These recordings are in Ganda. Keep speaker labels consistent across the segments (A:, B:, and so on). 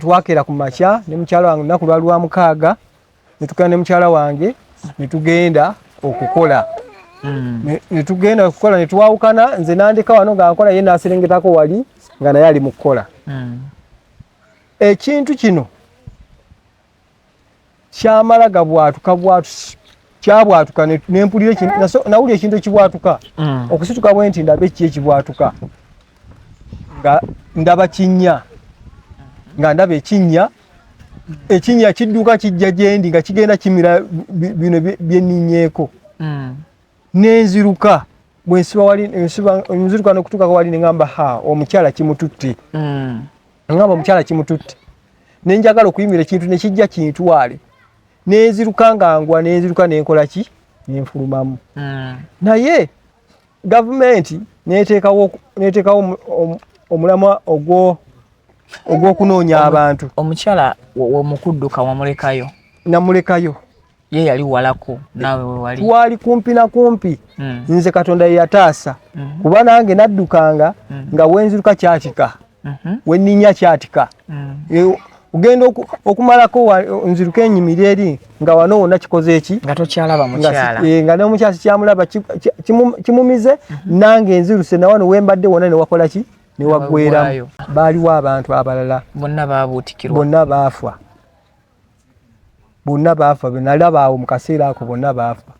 A: twakera ku makya ne mukyala wange lunaku lwali lwa mukaaga netugenda ne mukyala wange netugenda okukola hmm. netugenda okukola netwawukana nze nandika wano nga nkola ye naserengetako wali nga naye ali mu kukola hmm. ekintu kino kyamala gabwatuka bwatusi kyabwatuka nempulira nawulira ekintu ekibwatuka mm. okusituka bwe nti ndaba eki ekibwatuka nga ndaba kinnya nga ndaba ekinnya ekinnya kidduka kijja gyendi nga kigenda kimira bino byeninyeeko mm. nenziruka bwensiba wali nsiba nziruka nokutuka wali nengamba ha omukyala kimututte mm. ngamba omukyala kimututte nenjagala okuyimira ekintu nekijja kintwale nenziruka nga ngwa nenziruka nenkola ki nenfulumamu mm. naye gavumenti neteekawo neteekawo omulamwa ogwo ogwokunoonya abantu omukyala
B: womukudduka wamulekayo namulekayo
A: ye yali
B: walako nawe wewali twali kumpi na
A: kumpi mm. nze katonda yeyataasa mm -hmm. kuba nange naddukanga mm -hmm. nga wenziruka kyatika mm -hmm. weninya kyatika mm -hmm. ogenda okumalako nziruka enyimiri eri nga wano wona kikoze eki nga tokyalaba mukyala
B: eh, nga nomukyasi kyamulaba
A: kimumize mm -hmm. nange nziruse nawano wembadde wona newakola ki newagweramu baaliwo abantu abalala bonna babuutikirwa
B: bonna baafwa
A: bonna baafa benalaba awo mu kaseera ako bonna baafa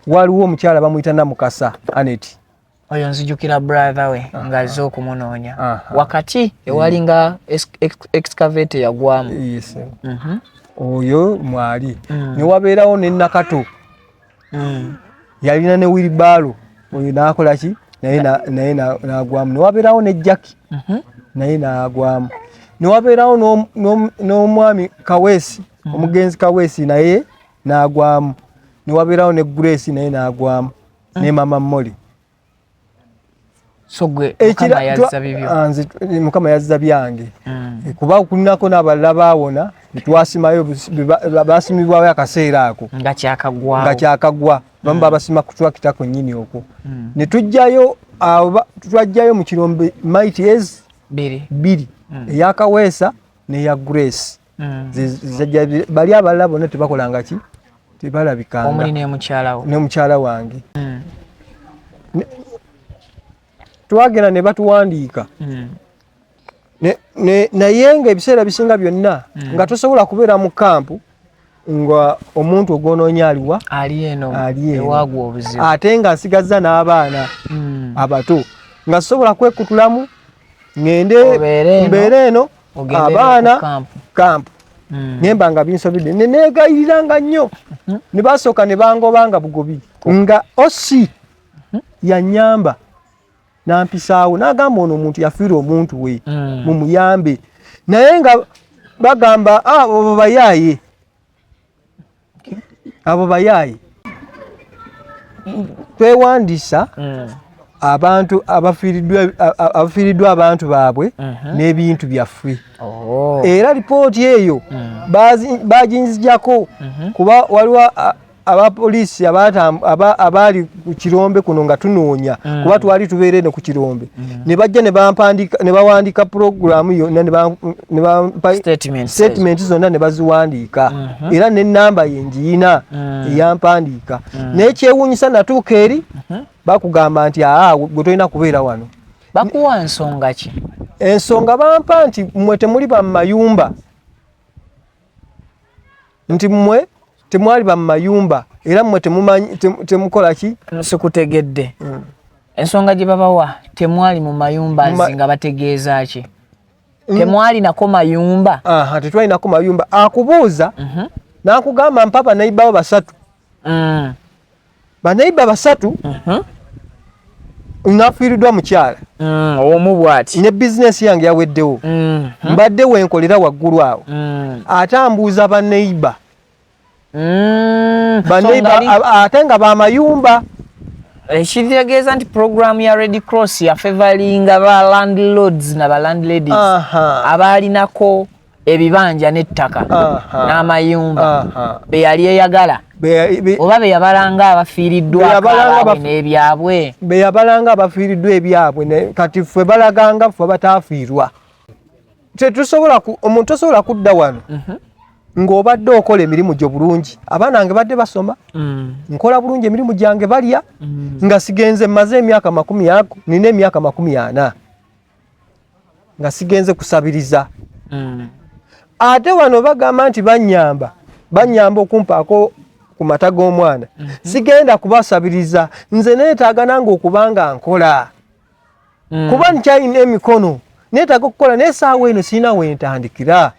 A: waliwo omukyala bamuyita namukasa aneti oyo nzijukira
B: brother we ah, nga azze ah. okumunoonya ah, wakati ewali nga excavate yagwamu mhm.
A: oyo mwali mm. newabeerawo nenakato mm. yalina ne wiribaalo oyo nakola ki naye naye nagwamu newabeerawo ne jaki mhm. naye nagwamu newabeerawo n'omwami kaweesi mhm. omugenzi kaweesi naye nagwamu newabeerawo ne grace naye nagwamu mhm. ne mama moli
B: mukama yazza
A: byange hmm. eh, kuba kulinako n'abalala baawona netwasimayo basimibwayo akaseera ako nga
B: kyakagwa bamu babasima
A: hmm. kutwakita kwennyini okwo hmm. ne tujjayo twajjayo mu kirombe mites bbiri eyakaweesa neya grace mm. zizajja bali abalala bonna tebakolanga ki tebalabikanga omuli nemukyalawo
B: nemukyala wange
A: mm. twagenda ne batuwandiika mm. naye nga ebiseera bisinga byonna mm. nga tosobola kubeera mu kampu nga omuntu ogwononya aliwa ali
B: eno ate nga nsigazza
A: n'abaana mm. abato nga sobola kwekutulamu ngende mbeera eno abaana kampu hmm. nemba nga binsobidde nenegayiriranga nnyo hmm. ne basooka ne bangobanga bugobi nga osi hmm. yanyamba nampisaawo nagamba ono omuntu yafiira omuntu we mumuyambe naye nga bagamba ah, obo bayaaye abo bayaaye twewandisa mm. abantu abafiiriddwa abantu baabwe uh-huh. n'ebintu byaffe oh. era lipooti eyo mm. baginzijako uh-huh. kuba waliwo abapoliisi abaali ku kirombe kuno nga tunoonya mm. kuba twali tubeera eno ku kirombe mm. ne bajja ne bampandika ne bawandiika pulogulaamu yonna ne bampa sitatimenti zonna ne baziwandiika mm-hmm. era n'ennamba ye ngiyina mm. eyampandiika naye kyewuunyisa natuuka eri mm-hmm. bakugamba nti aa gwe tolina kubeera wano bakuwa nsonga
B: ki ensonga bampa
A: nti mwe temuli bamumayumba nti mwe temwali ba mayumba era mwe temumanyi temukola ki sikutegedde
B: mm. ensonga gye babawa temwali mu mayumba Ma... nga bategeeza ki mm. temwali nako mayumba aha tetwali nako
A: mayumba akubuuza mm -hmm. nakugamba mpapa naibawo basatu mm. banaiba basatu uh mhm. -huh. nafiiridwa mukyala mm, omu bwati
B: ne bizinesi yange
A: yaweddewo mm, mm. mbadde wenkolera waggulu awo mm. ate ambuuza baneiba mm, baneiba so ate nga bamayumba
B: ekitegeeza eh, nti program ya red cross yafevalinga ba landlords na ba landladies abaalinako ebibanja n'ettaka n'amayumba beyali eyagala oba beyabalanga abafiiriddwaabwe n'ebyabwe beyabalanga
A: abafiiriddwa ebyabwe kati ffe balaganga ffe bataafiirwa tetusobola omuntu tosobola kudda wano mhm. ng'obadde okola emirimu gyo bulungi abaana bange badde basoma mm. nkola bulungi emirimu gyange balya mm. nga sigenze maze emyaka makumi ago nina emyaka makumi ana nga sigenze kusabiriza mm. ate wano bagamba nti banyamba banyamba okumpaako ku mata g'omwana mm -hmm. sigenda kubasabiriza nze neetaaga nange okuba nga nkola mm. kuba nkyalina emikono neetaaga okukola naye saawa eno sirina wentandikira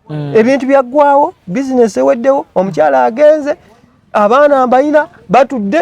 A: mm. ebintu byaggwawo bizinesi eweddewo omukyala agenze abaana mbalina batudde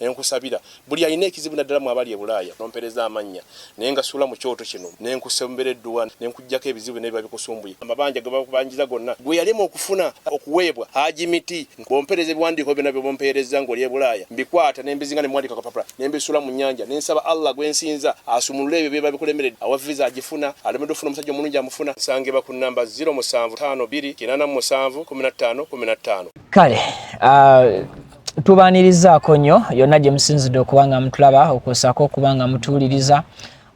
C: Nenkusabira buli alina ekizibu naddala mwe abali e Bulaaya nompereza amannya naye ngasuula mu kyoto kino nenkusembera edduwa nenkujjako ebizibu byonna ebiba bikusumbuye amabanja ge bakubanjiza gonna gwe yalema okufuna okuweebwa Haji Miti ng'ompereza ebiwandiiko byonna bye bumpeerezza ng'oli e Bulaaya mbikwata ne mbizinga ne muwandiika akapapula ne mbisuula mu nnyanja ne nsaba Allah gwe nsinza asumulule ebyo ebiba bikulemeredde awa viza agifuna alemeddwa okufuna omusajja omulungi amufuna nsangibwa ku nnamba ziro musanvu ttaano bbiri kinaana mu musanvu kkumi na ttaano kkumi na ttaano. Kale
B: uh, tubaanirizaako nnyo yonna gye musinzidde okuba nga mutulaba okwosaako okuba nga mutuwuliriza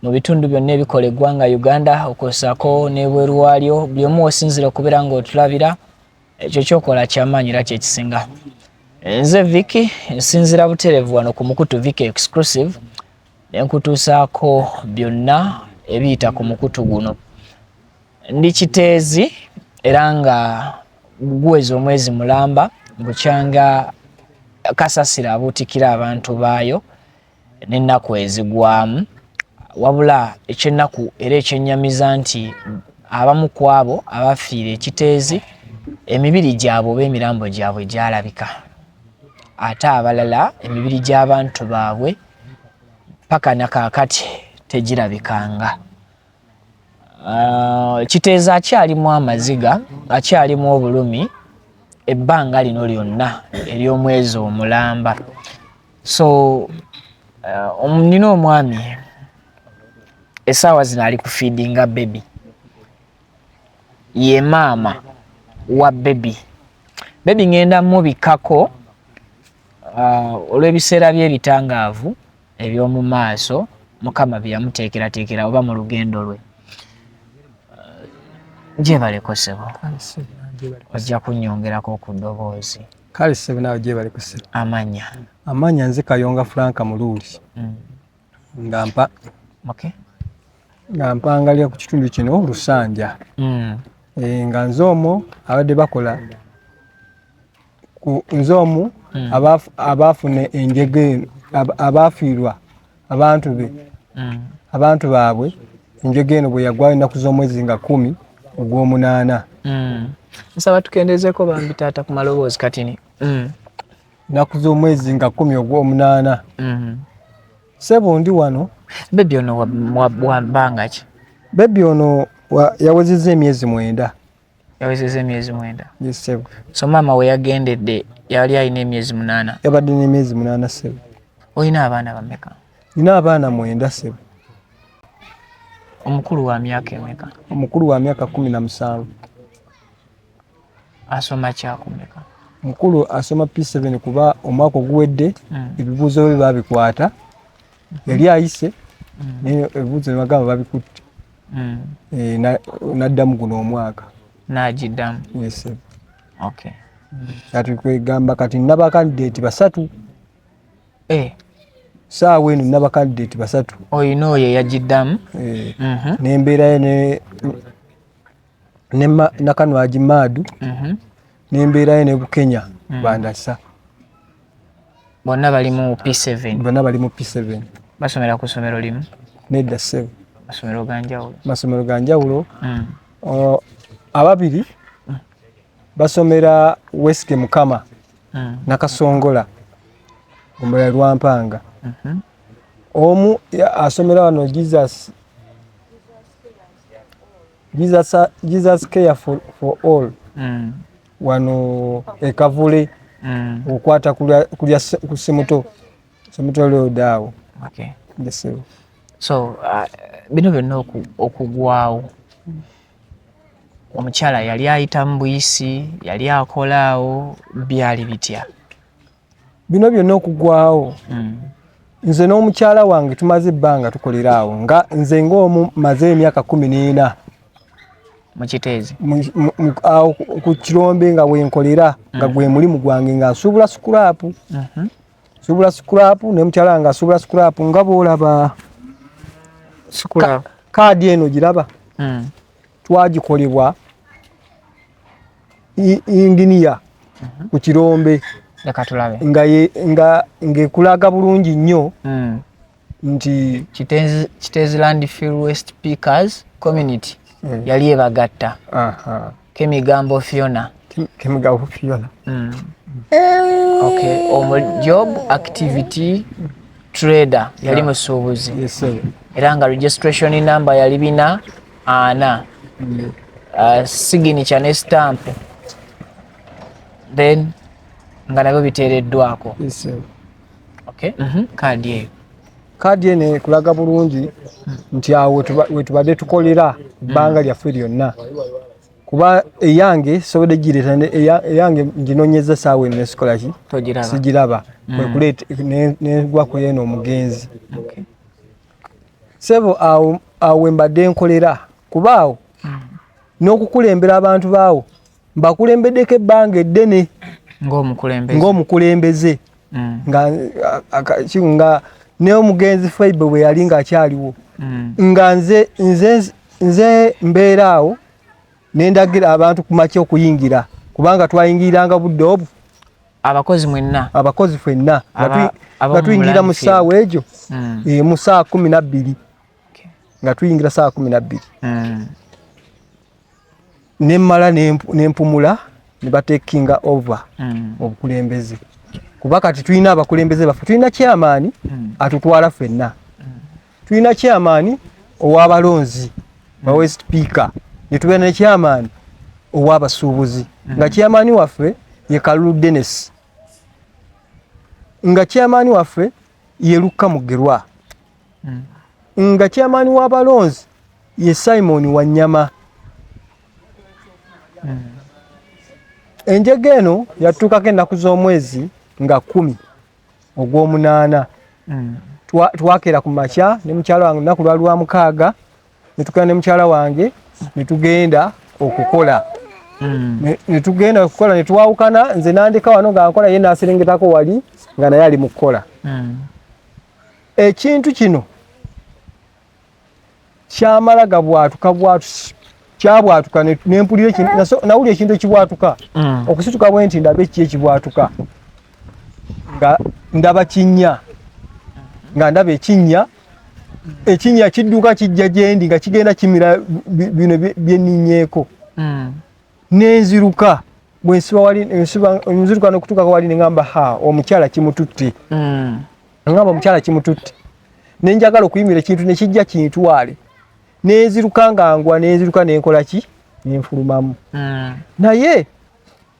B: mu bitundu byonna ebikola eggwanga uganda okwosaako n'ebweru waalyo buli omu osinzira okubeera ng'otulabira ekyo kyokola kyamaanyi era kyekisinga nze viki nsinzira buterevu wano ku mukutu viki exclusive nenkutuusaako byonna ebiyita ku mukutu guno ndi kiteezi era nga guweza omwezi mulamba bukyanga kasasira abuutikira abantu baayo n'ennaku ezigwamu wabula ekyennaku era ekyennyamiza nti abamu ku abo abafiira ekiteezi emibiri gyabwe oba emirambo gyabwe gyalabika ate abalala emibiri gy'abantu baabwe paka na kaakati tegirabikanga Uh, kiteeza akyalimu amaziga akyalimu obulumi ebbanga lino lyonna ery'omwezi omulamba so uh, um, nina uh, omwami esaawa zino ali ku feedinga bebi ye maama wa bebi bebi ŋenda mubikako uh, olw'ebiseera by'ebitangaavu eby'omu maaso mukama bye yamuteekerateekera oba mu lugendo lwe gyebaleko sebo ojja kunyongerako ku ddoboozi kale sebo nawe
A: gyebali ku sebo amanya amanya
B: nze kayonga
A: franka muluuli mm. nga mpa nga mpangalira ku kitundu kino lusanja mm. eh, nga nze omwo abadde bakola nze omu hmm. abaafuna enjega eno abaafiirwa abantu be hmm. abantu baabwe enjega eno bwe yagwayo ennaku z'omwezi nga kumi ogw'omunaana hmm.
B: nsaba tukendezeeko bambi taata ku maloboozi katini
A: ennaku z'omwezi nga kumi ogw'omunaana sebo ndi wano bebi ono
B: wabangaki bebi ono
A: yawezezza emyezi mwenda yawezeza
B: emyezi mwenda so
A: maama
B: weyagendedde yali alina emyezi munaana yabadde nemyezi munaana
A: sebo olina abaana
B: bameka nina abaana
A: mwenda sebo
B: omukulu wa myaka emeka omukulu wa myaka
A: kumi na musanvu
B: asoma kyakumeka mukulu asoma
A: p7 kuba omwaka oguwedde hmm. ebibuuzo bye babikwata yali ayise naye ebibuuzo nebagamba babikutte mm. eh, naddamu guno omwaka nagiddamu
B: kati
A: kwegamba kati nabakandidate basatu eh. saawa eno nabakandidate basatu oyina oyo
B: eyagiddamu eh. mhm.
A: nembeerayo nakanwagi maadu mhm. nembeerayo ne bukenya mm. bandasa
B: bonna bali mu p7 bonna bali mu p7
A: basomera ku somero
B: limu nedda sebo
A: masomero ganjawulo
B: masomero ganjawulo
A: mm. ababiri mm. basomera wesike mukama mm. nakasongola omulala lwampanga mm -hmm. omu asomera wano jesus Jesus, uh, Jesus care for, for all mm. wano ekavule mm. okwata kulya kusimuto simuto lyodaawo okay. yes, so uh,
B: bino byonna okugwawo omukyala yali ayita mu buyisi yali akolaawo byali bitya
A: bino byonna okugwawo hmm. nze n'omukyala wange tumaze ebbanga tukolera awo nga nze ngaomu maze emyaka kumi n'ena
B: mukiteezi awo
A: ku kirombe nga wenkolera nga hmm. gwe mulimu gwange nga nsuubula sikulapu mhm. nsuubula sikulapu ne mukyala wange asuubula sikulapu nga boolaba
B: kaadi
A: eno giraba hmm. twagikolebwa inginiya mhm. ku kirombe ngekulaga bulungi nnyo hmm. nti
B: kitezi land fill west pickers community hmm. yali ebagatta kemigambo fiona kemigambo fiona hmm. okay omu job activity trader yali musuubuzi era
A: nga registration
B: number yali bina ana mm. uh, signature ne stamp then nga nabyo biteereddwako yes,
A: okay. mm
B: -hmm. kaadi eyo kaadi eno ekulaga
A: bulungi nti awo wetubadde tukolera ebbanga lyaffe lyonna kuba eyange sobodde gireeta eyange nginonyeza saawa eno nesikolaki sigiraba
B: mm.
A: kwekuleeta negwa ku eno omugenzi sebo awo awo mbadde nkolera kuba awo hmm. n'okukulembera abantu baawo mbakulembeddeko ebbanga eddene ng'omukulembeze hmm. nga naye omugenzi faibe bwe yali ng'akyaliwo hmm. nga nze nze nze mbeera awo nendagira abantu ku makya okuyingira kubanga twayingiriranga budde obwo abakozi mwenna abakozi fwenna nga tuyingira mu ssaawa egyo hmm. eh, mu ssaawa kumi nabbiri nga tuyingira ssaawa kumi nabbiri hmm. ne mmala ne mpumula ne batekinga over hmm. mu bukulembeze kuba kati tulina abakulembeze baffe tulina kyamaani atutwala fenna tulina chairman owabalonzi hmm. bawe speaker netubeera ne chairman owabasuubuzi hmm. nga chairman waffe ye kalulu denis nga chairman waffe ye lukka mugerwa hmm. nga chairman wabalonzi ye simon wanyama enjega eno yatuukako ennaku z'omwezi nga kumi ogw'omunaana mm. twakera ku makya ne mukyala wange lunaku lwali lwa mukaaga ne tukera ne mukyala wange ne tugenda okukola mm. ne tugenda okukola ne twawukana nze nandika wano nga nkola ye naaserengetako wali nga naye ali mu kukola mm. ekintu kino kyamala gabwatuka bwatusi kyabwatuka nempulira nawulira ekintu ekibwatuka mm. okusituka bwe nti ndaba eki ekibwatuka nga ndaba kinnya nga ndaba ekinnya ekinnya kidduka kijja gyendi nga kigenda kimira bino byeninyeeko mm. nenziruka bwensiba wali nziruka nokutuukako wali nengamba ha omukyala kimututte mm. Ngamba omukyala kimututte ne njagala okuyimira ekintu ne kijja kintwale ne nziruka ngangwa ne nziruka ne nkola ki ne nfulumamu hmm. naye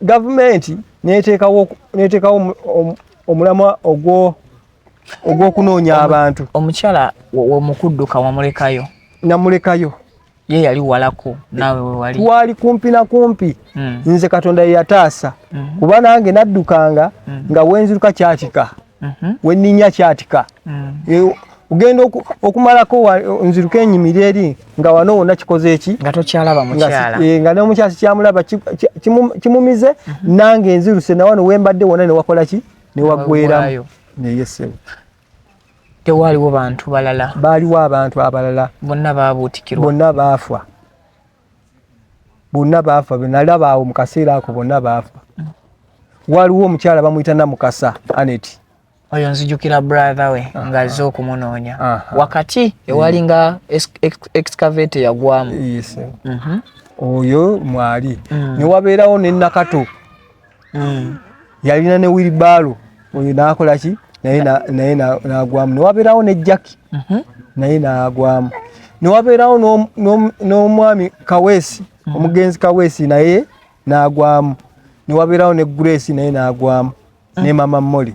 A: gavumenti neteekawo neteekawo omulamwa ogwo ogw'okunoonya abantu omukyala
B: womukudduka wamulekayo namulekayo
A: ye yali
B: walako nawe wewali twali kumpi na
A: kumpi mm. nze katonda yeyataasa mm -hmm. kuba nange naddukanga mm -hmm. nga wenziruka kyatika mm -hmm. weninya kyatika mm -hmm. ugenda okumalako nziruka enyimiri eri nga wano wona kikoze eki nga tokyalaba mukyala
B: e, nga nomukyasi
A: kyamulaba kimumize ki, ki, mm -hmm. nange nziruse nawano wembadde wona newakola ki newagweramu neyesebo
B: tewaaliwo bantu balala baaliwo abantu
A: abalala bonna baabuutikirwa
B: bonna baafa
A: bonna baafa benalaba awo mu kaseera ako bonna baafa waaliwo omukyala bamuyita namukasa anet oyo nzijukira
B: brother we ah, nga azze ah. okumunoonya ah, wakati ewali nga excavate yagwamu mhm.
A: oyo mwali mm. newabeerawo nenakato mm. yalina ne wiribaalo oyo nakola ki naye naye nagwamu newabeerawo ne jaki mhm. naye nagwamu newabeerawo n'omwami kaweesi mhm. omugenzi kaweesi naye nagwamu newabeerawo ne grace naye nagwamu ne mama moli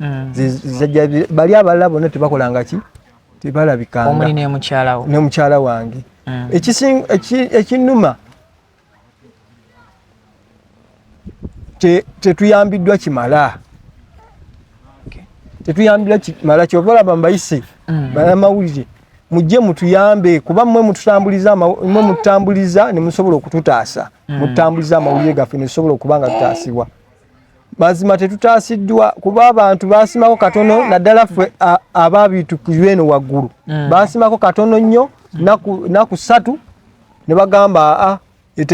A: mm. zizajja bali abalala bonna tebakolanga ki tebalabikanga omuli nemukyalawo
B: nemukyala wange
A: mm. ekinuma tetuyambiddwa kimala tetuyambiddwa kimala kyova olaba mbayise mm. banamawulire mujje mutuyambe kuba mwe mututambuliza mwe mututambuliza ne musobola okututaasa mm. mututambuliza amawulire gaffe ne tusobola okuba nga tutaasibwa mazima tetutaasiddwa kuba abantu baasimako katono naddala ffe abaabitukirwa eno waggulu mm. baasimako katono nnyo naku ssatu ne bagamba aa ah, e,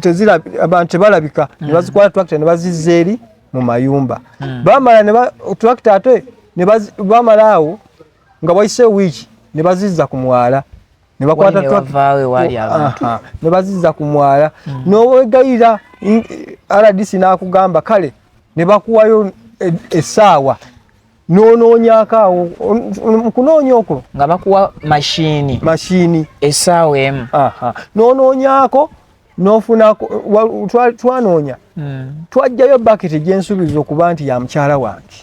A: e, abantu tebalabika ne mm. bazikwala tractor ne bazizza eri mu mayumba mm. bamala tractor ate bamala awo nga wayise wiiki ne bazizza ku mwala ne bakwata ne baziza ku mwala mm. n'owegayira rdc n'akugamba kale ne bakuwayo e, essaawa n'onoonyaako awo mu kunoonya okwo nga bakuwa
B: mashini mashini essaawa emu n'onoonyaako
A: nofuna twanoonya hmm. twajjayo baketi gyensuubiza okuba nti ya mukyala wange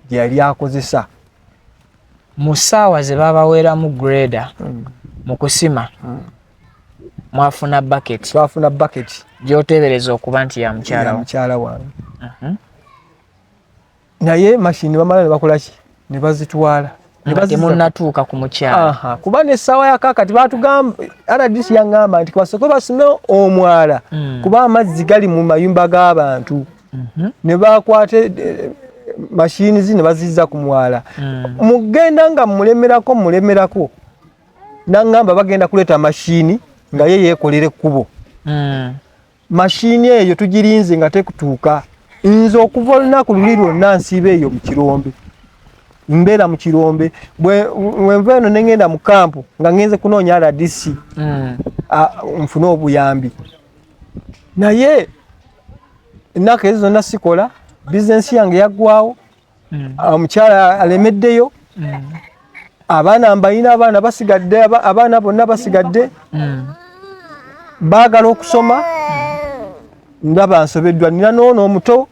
A: gye yali akozesa
B: mu ssaawa ze babaweeramu greda hmm. mu kusima hmm. mwafuna bucket twafuna bucket gyoteebereza okuba nti ya mukyala mukyala wange mhm.
A: naye mashini bamala ne bakola ki ne bazitwala temunatuuka
B: ku mukyala kuba nessaawa
A: yakakati batugamba rdc yangamba nti basooke basime omwala hmm. kuba amazzi gali mu mayumba g'abantu mhm. ne bakwata eh, eh, mashini zi ne bazizza ku mwala hmm. mugenda nga mulemerako mulemerako nangamba bagenda kuleeta mashini nga ye yeekolera ekkubo hmm. Mashini eyo tugirinze nga tekutuuka. Nze okuva olunaku luli lwonna nsiiba eyo mu kirombe. Mbeera mu kirombe. Bwenva eno ne ngenda mu kampu nga ngenze kunoonya RDC mm. nfune obuyambi. Naye ennaku ezo zonna sikola, bizinensi yange yaggwawo. mm. ah, omukyala alemeddeyo mm. abaana mbalina abaana basigadde abaana bonna basigadde mm. baagala okusoma ndaba nsobeddwa nina noono omuto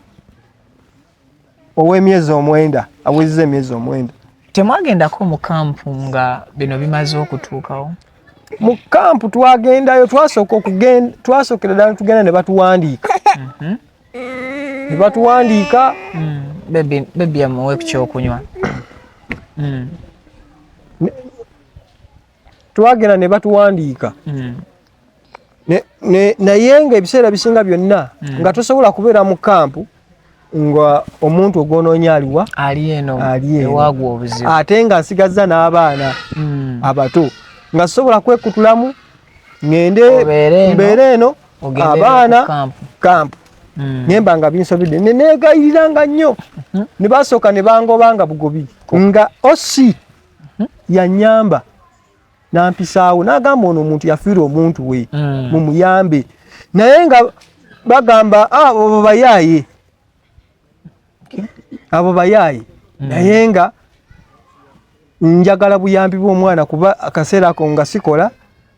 A: ow'emyezi omwenda awezza emyezi omwenda temwagendako mu
B: kampu nga bino bimaze okutuukawo mu
A: kampu twagendayo twasooka okugenda twasookera ddala tugenda ne batuwandiika mhm. nebatuwandiika mm.
B: bebi amuwe kukyokunywa mm.
A: twagenda nebatuwandiika mm. naye nga ebiseera bisinga byonna nga tosobola kubeera mu kampu nga omuntu ogwononya aliwa
B: ate nga nsigazza
A: n'abaana abato nga sobola kwekutulamu ngende mbeere eno abaana kampu hmm. nemba nga binsobidde nenegayiriranga nnyo hmm. ne basooka ne bangobanga bugobi nga osi hmm. yanyamba nampisaawo nagamba ono omuntu yafiirwa omuntu we mumuyambe naye nga bagamba ah, obo bayaaye abo bayaaye mm. naye nga njagala buyambi bw'omwana kuba akaseera ako nga sikola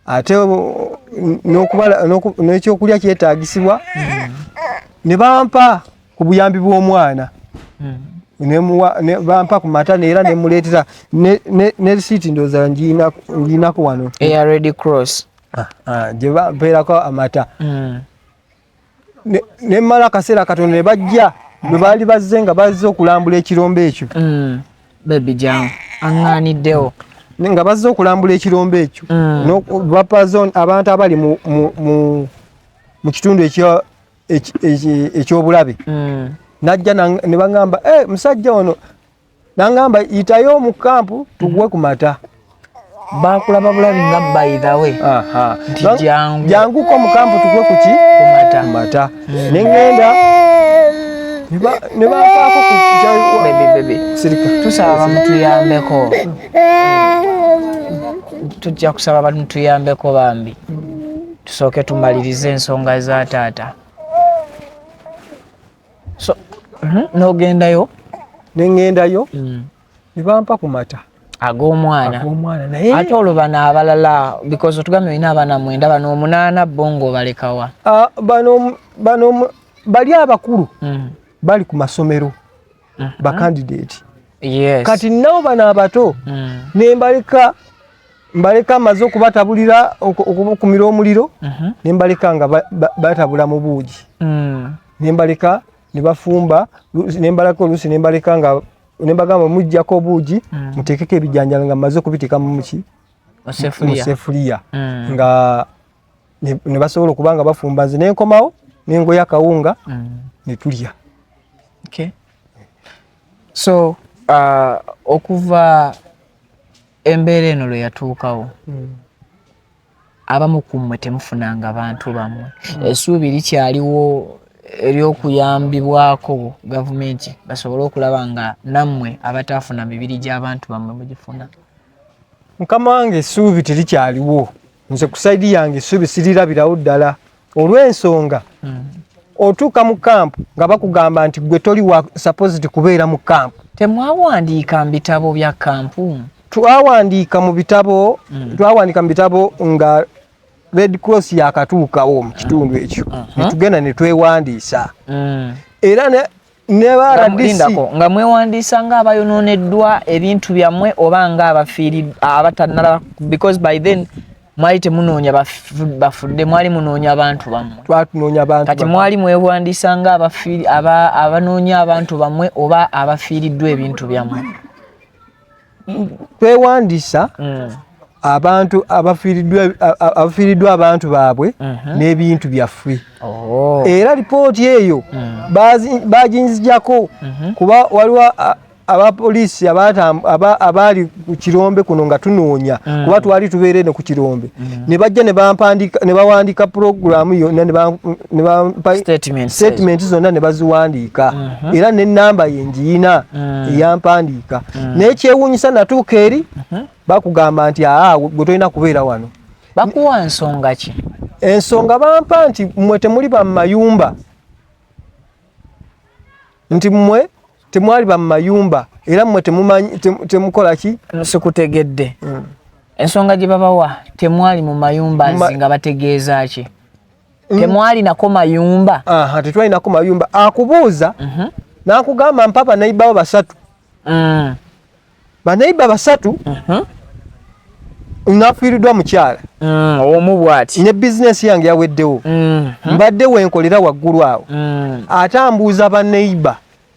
A: ate n'ekyokulya kyetaagisibwa mm. ne bampa ku buyambi bw'omwana mm. bampa ku mata neera nemuleetera ne risiiti ndooza ngiinako wano eya red cross
B: ah, ah, gye
A: bampeerako amata ne mala kasera katono ne bajja bwe baali bazze nga bazze okulambula ekirombe ekyo mm. bebi
B: jangu aŋŋaaniddewo nga bazze
A: okulambula ekirombe ekyo mm. bapazon abantu abali mu kitundu ekyobulabe mm. najja ne baŋamba eh, musajja ono nangamba yitayo mu kampu tuguwe ku mata bakulaba
B: bulabi nga by the way nti jangu jangu ko
A: mu kampu tuguwe ku ki ku mata mata mm. ne ngenda ne bakaako ku bebe bebe
B: sirika tusaba bamutuyambeko tujja kusaba bamutuyambeko bambi tusooke tumalirize ensonga za taata so mhm, nogendayo nengendayo
A: mm. nebampa ku mata ag'omwana
B: ate
A: olwo bano
B: abalala because otugambye olina abaana mwenda bano omunaana bo ngaobalekawa ah,
A: bano bali abakulu mm. bali ku masomero mm-hmm. bakandidate kati
B: nabo bano
A: abato mm. nembaleka mbaleka maze okubatabulira okukumira omuliro mm-hmm. nembaleka nga batabula mu buugi mm. nembaleka nebafumba nembalako oluusi nembaleka nga nembagamba mujjako obuugi mm. muteekeko ebijanjalo nga mmaze okubiteeka mumuki musefuliya mm. nga nebasobola okuba nga bafumba nze nenkomawo nengoya akawunga mm. netulya
B: so uh, okuva embeera eno lwe yatuukawo abamu ku mmwe temufunanga bantu bammwe hmm. esuubi likyaliwo ery'okuyambibwako gavumenti basobole okulaba nga nammwe abataafuna mibiri gy'abantu bammwe mugifuna
A: mukama wange esuubi terikyaliwo nze ku saidi yange esuubi sirirabirawo ddala olw'ensonga hmm. otuuka mu kampu nga bakugamba nti gwe toli wa supposed kubeera mu kampu temwawandiika mu
B: bitabo bya kampu twawandiika
A: mu bitabo hmm. twawandiika mu bitabo nga red cross yakatuukawo mu kitundu ekyo hmm. netugenda netwewandiisa era nebaradisindako nga mwewandiisa
B: nga abayononeddwa ebintu byammwe oba nga abafiiri abatanala because by then mwali temunoonya bafudde mwali munoonya abantu bammwekati
A: mwali mwewandiisa
B: nga abanoonya abantu bammwe oba abafiiriddwa ebintu byammwe
A: twewandisa mm. abantu abafiiriddwa abantu baabwe mhm. n'ebintu byaffe oh. era lipooti eyo mm. baginzijako mhm. kuba waliwo abapoliisi abaali ku kirombe kuno nga tunoonya mm. kuba twali tubeera eno ku kirombe mm. ne bajja ne bawandiika puroguramu yonna sitatimenti zonna ne baziwandiika mm-hmm. era n'ennamba ye njiyina mm. eyampandiika mm. naye kyewuunyisa natuuka eri mm-hmm. bakugamba nti aa gwe tolina kubeera wano bakuwa nsonga
B: ki ensonga bampa
A: nti mwe temuli ba mumayumba nti mwe temwali ba mumayumba era mwe temukola ki sikutegedde
B: mm. ensonga gye babawa temwali mu mayumba nzi nga bategeeza ki mm. temwalinako mayumba tetwalinako mayumba
A: akubuuza mhm. nakugamba mpa banaibawo basatu mm. banaiba basatu mhm. nafiiridwa mukyala mm, omu bwati
B: ne bizinesi yange
A: yaweddewo mbadde wenkolera waggulu awo ate ambuuza baneiba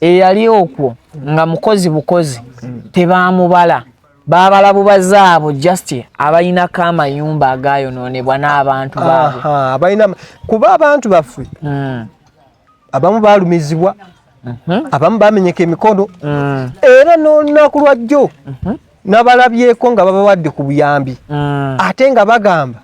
B: eyali okwo nga mukozi bukozi tebamubala babala bubazi abo just abalinako amayumba agayononebwa n'abantu babalina kuba abantu
A: baffe hmm. abamu balumizibwa mhm. abamu bamenyeka emikono hmm. era n'olunaku lwajjo mhm. nabalabyeko nga babawadde ku buyambi hmm. ate nga bagamba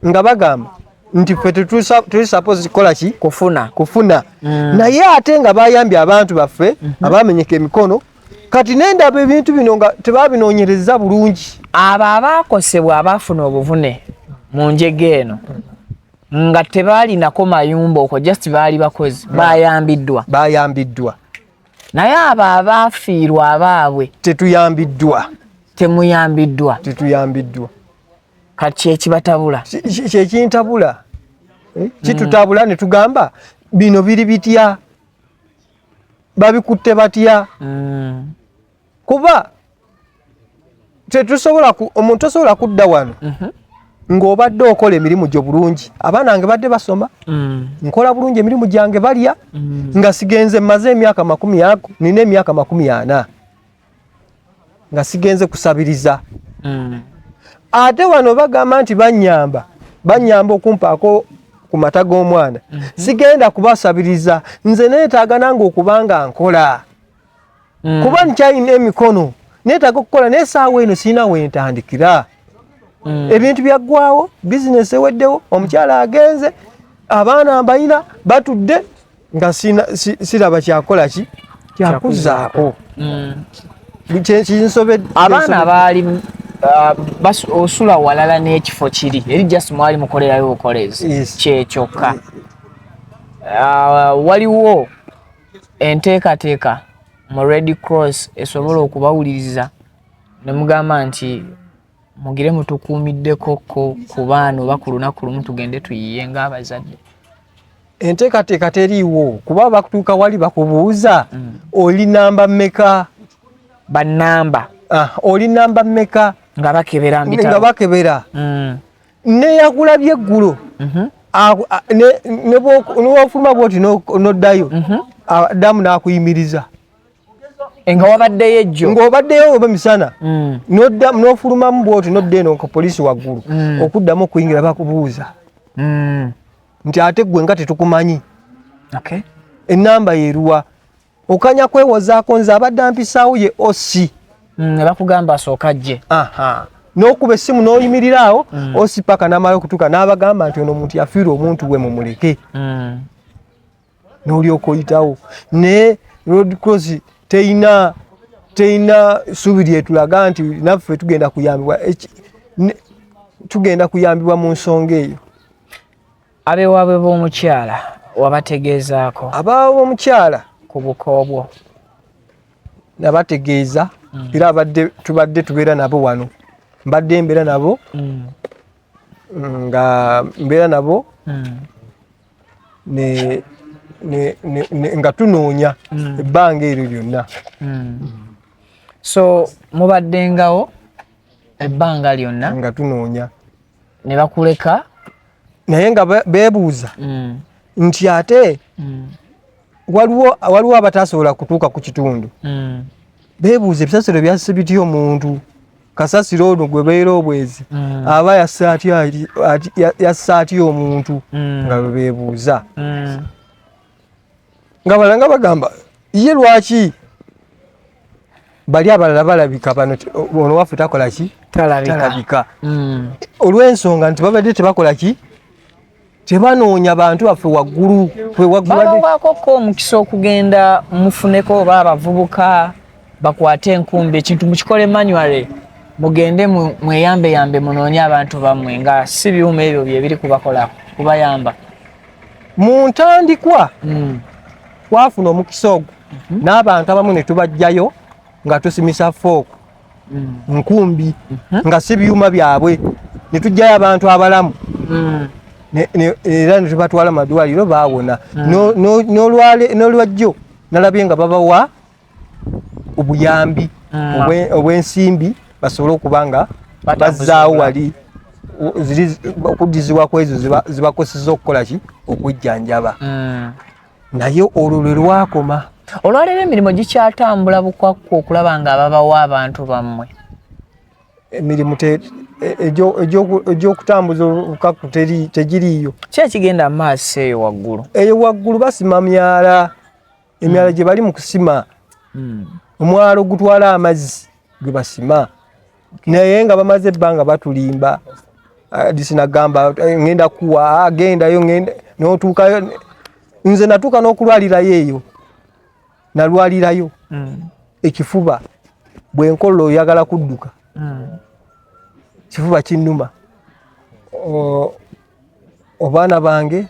A: nga bagamba nti ffe tuli suppose kukola ki kufuna kufuna mm. naye ate nga bayambye abantu baffe mm -hmm. abamenyeka emikono kati nendaba ebintu bino nga tebabinoonyereza bulungi abo abaakosebwa
B: abaafuna obuvune mu njega eno nga tebaalinako mayumba okwo just baali bakozi mm. bayambiddwa bayambiddwa naye abo abaafiirwa abaabwe tetuyambiddwa temuyambiddwa tetuyambiddwa kati kyekibatabula kyekintabula
A: eh, kitutabula mm. netugamba bino biri bitya babikutte batya mm. kuba tetusobola omuntu osobola kudda wano mm -hmm. ng'obadde okola emirimu gyo bulungi abaana nge badde basoma mm. nkola bulungi emirimu gyange balya mm. nga sigenze maze emyaka makumi ago nina emyaka makumi ana nga sigenze kusabiriza mm. ate wano bagamba nti banyamba banyamba okumpaako ku mata g'omwana mm -hmm. sigenda kubasabiriza nze neetaaga nange okuba nga nkola mm. kuba nkyalina emikono neetaaga okukola naye saawa eno sirina wentandikira mm. ebintu byaggwawo bizinesi eweddewo omukyala agenze abaana mbalina batudde nga siraba kyakola ki kyakuzaako mm.
B: kinsobedde abaana baali uh, osula walala n'ekifo kiri eri just mwali mukolerayo bukolezi kyekyokka uh, waliwo enteekateeka mu red cross esobola okubawuliriza ne mugamba nti mugire mutukuumiddeko ko ku baana oba ku lunaku lumu tugende tuyiye ng'abazadde
A: enteekateeka teriiwo kuba bakutuuka wali bakubuuza mm. oli namba mmeka banamba
B: ah, oli
A: namba mmeka nga bakebera
B: nga bakebera
A: mm. neyakulabye eggulo mhm. newafuluma bwoti noddayo mhm. damu nakuyimiriza
B: nga wabaddeyo ejjo ng'obaddeyo oba misana
A: mm. n'ofulumamu bwoti nodda eno nka poliisi waggulu mm. okuddamu okuyingira bakubuuza mm. nti ate ggwe nga tetukumanyi ennamba yeruwa okanya kwewozaako nze abadde ampisaawo ye osi nebakugamba
B: asooka jje nokuba
A: esimu noyimirira awo mm. osipaka namala okutuka nabagamba nti ono omuntu yafiirwa omuntu we mumuleke mm. n'olyoka oyitawo naye road cross teyina teyina suubi lyetulaga nti naffe tugenda kuyambibwa tugenda kuyambibwa mu nsonga eyo
B: abewaabwe b'omukyala wabategeezaako abaawe
A: b'omukyala ku bukoobwo
B: nabategeeza
A: mm. era abadde tubadde tubeera nabo wano mbadde mbeera nabo mm. nga mbeera nabo mm. ne nga tunoonya hmm. ebbanga eryo lyonna hmm. so
B: mubaddengawo ebbanga lyonna nga tunoonya
A: ne
B: bakuleka naye
A: nga beebuuza hmm. nti ate waliwo abatasobola kutuuka ku kitundu beebuuza ebisasiro byase bitya omuntu kasasiro ono gwe beera obwezi mm. aba yassa atya omuntu mm. nga bebebuuza mm. nga balanga bagamba ye lwaki bali abalala balabika bano ono waffe takola ki talabika olw'ensonga nti babadde tebakola ki tebanoonya bantu baffe waggulu bawakokka
B: omukisa okugenda mufuneko oba abavubuka bakwate enkumbi ekintu mukikole manuale mugende mweyambeyambe munoonye abantu bammwe nga si byuma ebyo byebiri kubakola kubayamba
A: mu ntandikwa hmm. twafuna omukisa ogwo mhm. n'abantu abamu ne tubajjayo nga tusimisa fook hmm. nkumbi hmm. nga si byuma byabwe ne tujjayo abantu abalamu hmm. era ne tubatwala madwaliro baawona n'olwajjo nalabye nga babawa obuyambi obw'ensimbi basobole okuba nga bazzaawo wali okuddizibwa kwezo zibakoseza okukola ki okujjanjaba naye olwo lwe lwakoma olwaleero emirimu
B: gikyatambula bukwakku okulaba nga ababawa abantu bammwe
A: emirimu e, egyokutambuza obukakku tegiriiyo ki ekigenda mu
B: maaso eyo waggulu eyo waggulu basima
A: myala emyala hmm. gye bali mu kusima hmm. omwalo ogutwala amazzi gwe basima naye nga bamaze ebbanga batulimba ah, disinagamba eh, ngenda kuwa agendayo ah, ngenda notuukayo nze natuuka n'okulwalirayo eyo nalwalirayo mm. ekifuba bwenkola oyagala kudduka mm. kifuba kinnuma obaana bange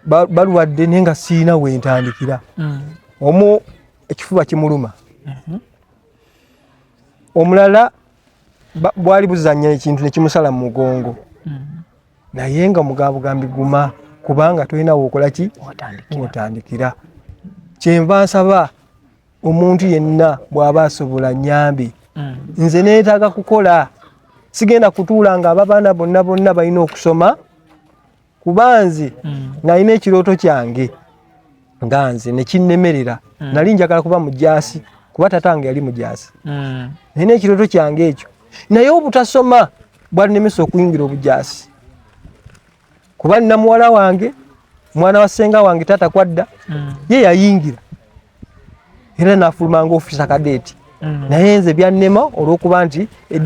A: balwadde naye nga siina wentandikira mm. omu ekifuba kimuluma mm-hmm. omulala bwali buzanya ekintu nekimusala mu mugongo mm-hmm. naye nga mugabugambi guma kubanga tolina wokola ki otandikira kyenva nsaba omuntu yenna bwaba asobola nyambi mm. nze netaga kukola sigenda kutuula nga aba baana bonna bonna balina okusoma kuba nze mm. nalina ekirooto kyange nga nze nekinnemerera mm. nali njagala kuba mujaasi kuba tata wange yali mujaasi mm. nalina ekirooto kyange ekyo naye obutasoma bwalinemesa okuyingira obujaasi kuba nina muwala wange mwana wa senga wange tata kwadda mm. ye yayingira era nafuluma nga ofisa kadeeti mm. naye nze byannema olwokuba nti e,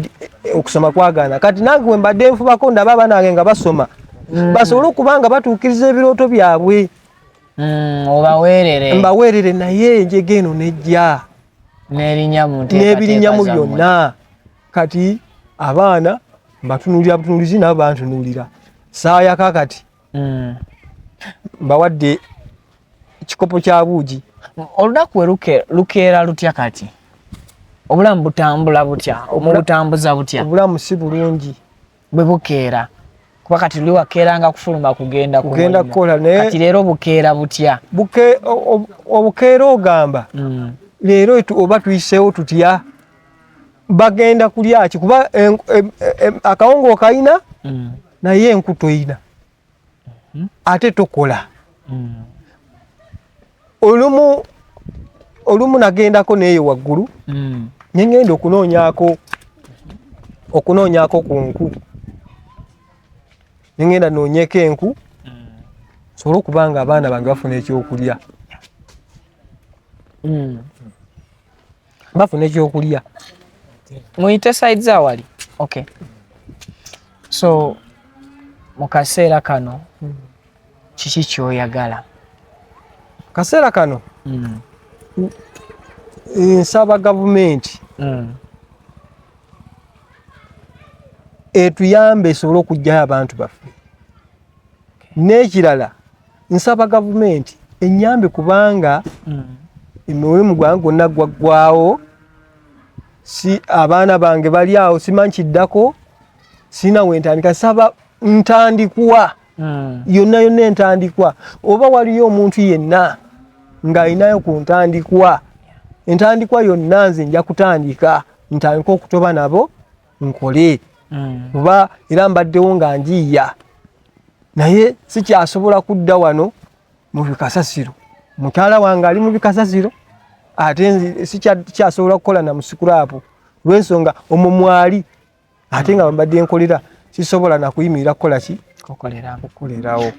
A: e, okusoma kwagaana kati nange wembadde nfubako ndaba abaana bange nga basoma mm. basobole okuba nga batuukiriza ebirooto byabwe mm, obaweerere mbaweerere naye enjega eno nejja n'ebirinyamu byonna kati abaana mbatunulira butunulizi nabo bantunulira saayaka kati mm. bawadde ekikopo kya buugi olunaku we
B: lukeera lutya kati obulamu butambula butya omubutambuza butya obulamu si bulungi
A: bwe bukeera
B: kuba kati luli wakeeranga kufuluma kugenda kugenda kukola naye kati
A: leero bukeera
B: butya buke
A: obukeera ogamba mm. leero oba tuyiseewo tutya bagenda kulyaki kuba akawongo okalina mm. naye enku toyina hmm? ate tokola hmm. olumu olumu nagendako neeyo waggulu hmm. nengenda okunoonyako okunoonyako ku nku nengenda noonyeko enku nsobole okuba nga abaana bange bafuna ekyokulya bafuna ekyokulya
B: muyite side zawali okay so mu kaseera kano kiki kyoyagala
A: kaseera kano mm. nsaba gavumenti mm. etuyambe esobole okugyayo abantu baffe n'ekirala nsaba gavumenti enyambe kubanga mm. emiwulimu gwange gwonna gwaggwawo si abaana bange bali awo simanyi kiddako sirina wentandika nsaba ntandikwa mm. yonna yonna entandikwa oba waliyo omuntu yenna ng'alinayo ku ntandikwa entandikwa yonna nze nja kutandika ntandika okutoba nabo nkole mm. kuba era mbaddewo nga njiiya naye sikyasobola kudda wano mu bikasasiro mukyala wange ali mu bikasasiro ate sikyasobola kukola na musikurapu lwensonga omwo mwali ate nga mbadde nkolera sisobola nakuyimirira kukola ki kukolerawo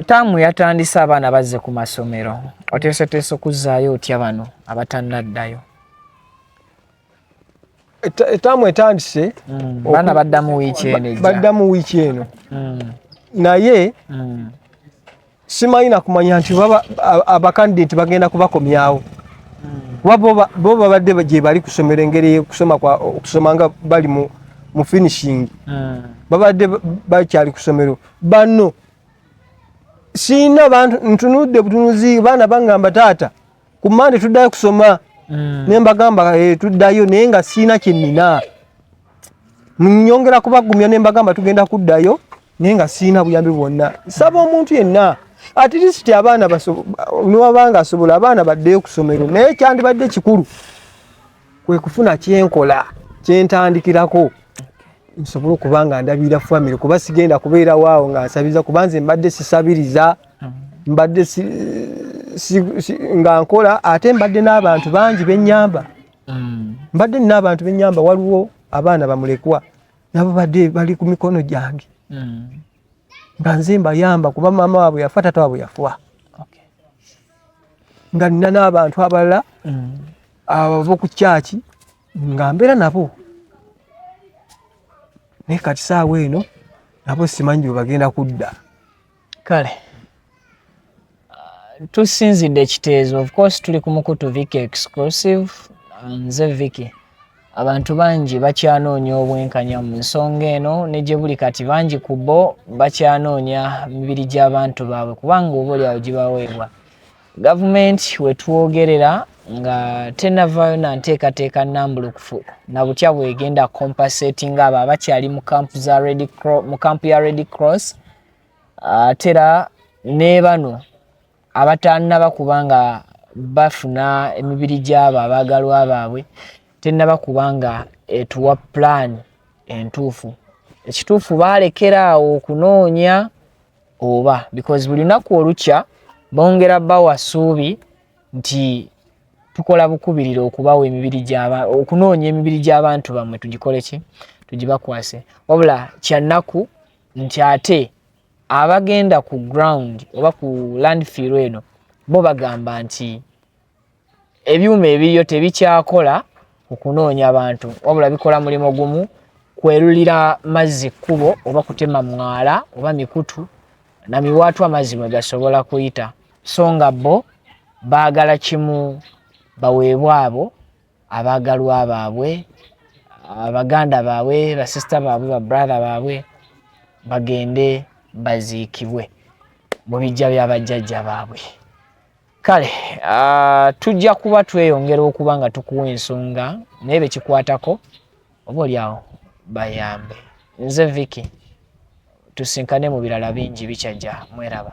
A: taamu
B: yatandise abaana bazze ku masomero oteeseteesa okuzzaayo otya bano abatannaddayo
A: etaamu etandise mm. baana baddamu
B: wiiki eno baddamu wiiki eno mm. naye mm. simanyi nakumanya nti abakandidenti bagenda kubakomyawo kuba bo babadde gyebali kusomera engeri yokusoma okusoma nga bali mu finishing babadde bakyali kusomero banno siina ntunudde butunuzi baana bangamba taata ku mande tuddayo kusoma mm. naye mbagamba eh, tuddayo naye nga siina kyenina nyongera kubagumya ne mbagamba tugenda kuddayo naye nga siina buyambi bwonna saba omuntu yenna at least abaana niwabanga asobola abaana baddeyo kusomero naye kyandibadde kikulu kwe kufuna kyenkola kyentandikirako nsobole okuba nga ndabirira famire kuba sigenda kubeera waawo nga nsabiriza kuba nze mbadde sisabiriza mm. mbadde nga nkola ate mbadde n'abantu bangi benyamba mm. mbadde nina abantu benyamba waliwo abaana bamulekwa nabo badde bali ku mikono gyange mm. nga nze mbayamba kuba maama waabwe yafa tata waabwe yafuwa nga nina n'abantu abalala abava ku kyaki nga mbeera nabo naye kati saawa eno nabo simanyi bwe bagenda kudda kale uh, tusinzidde ekiteezo of course tuli ku mukutu viki exclusive nze viki abantu bangi bakyanoonya obwenkanya mu nsonga eno ne gye buli kati bangi ku bo bakyanoonya mibiri gy'abantu baabwe kubanga oba olyawo gibaweebwa Gavumenti wetwogerera nga tenavayo na nteekateeka nambulukufu na butya bwegenda compensating abo abakyali mu kampu ya Red Cross ate era ne bano abatanaba kuba nga bafuna emibiri gy'abo abaagalwa baabwe tenaba kuba nga etuwa pulaani entuufu ekituufu baalekera awo okunoonya oba because buli lunaku olukya bongera bawa suubi nti tukola bukubirira okubawa emibiri gyaba okunoonya emibiri gy'abantu bamwe tugikole ki tugibakwase wabula kyannaku nti ate abagenda ku ground oba ku landfill eno bo bagamba nti ebyuma ebiriyo tebikyakola okunoonya bantu wabula bikola mulimu gumu kwerulira mazzi kkubo oba kutema mwala oba mikutu na miwaatu amazzi mwe gasobola kuyita so nga bo baagala kimu baweebwe abo abaagalwa baabwe abaganda baabwe basisita baabwe babrathe baabwe bagende baziikibwe mu bijja byabajjajja baabwe kale uh, tujja kuba tweyongera okuba nga tukuwa ensonga naye bekikwatako oba olyawo bayambe nze viki tusinkane mu birala bingi bikyajja mweraba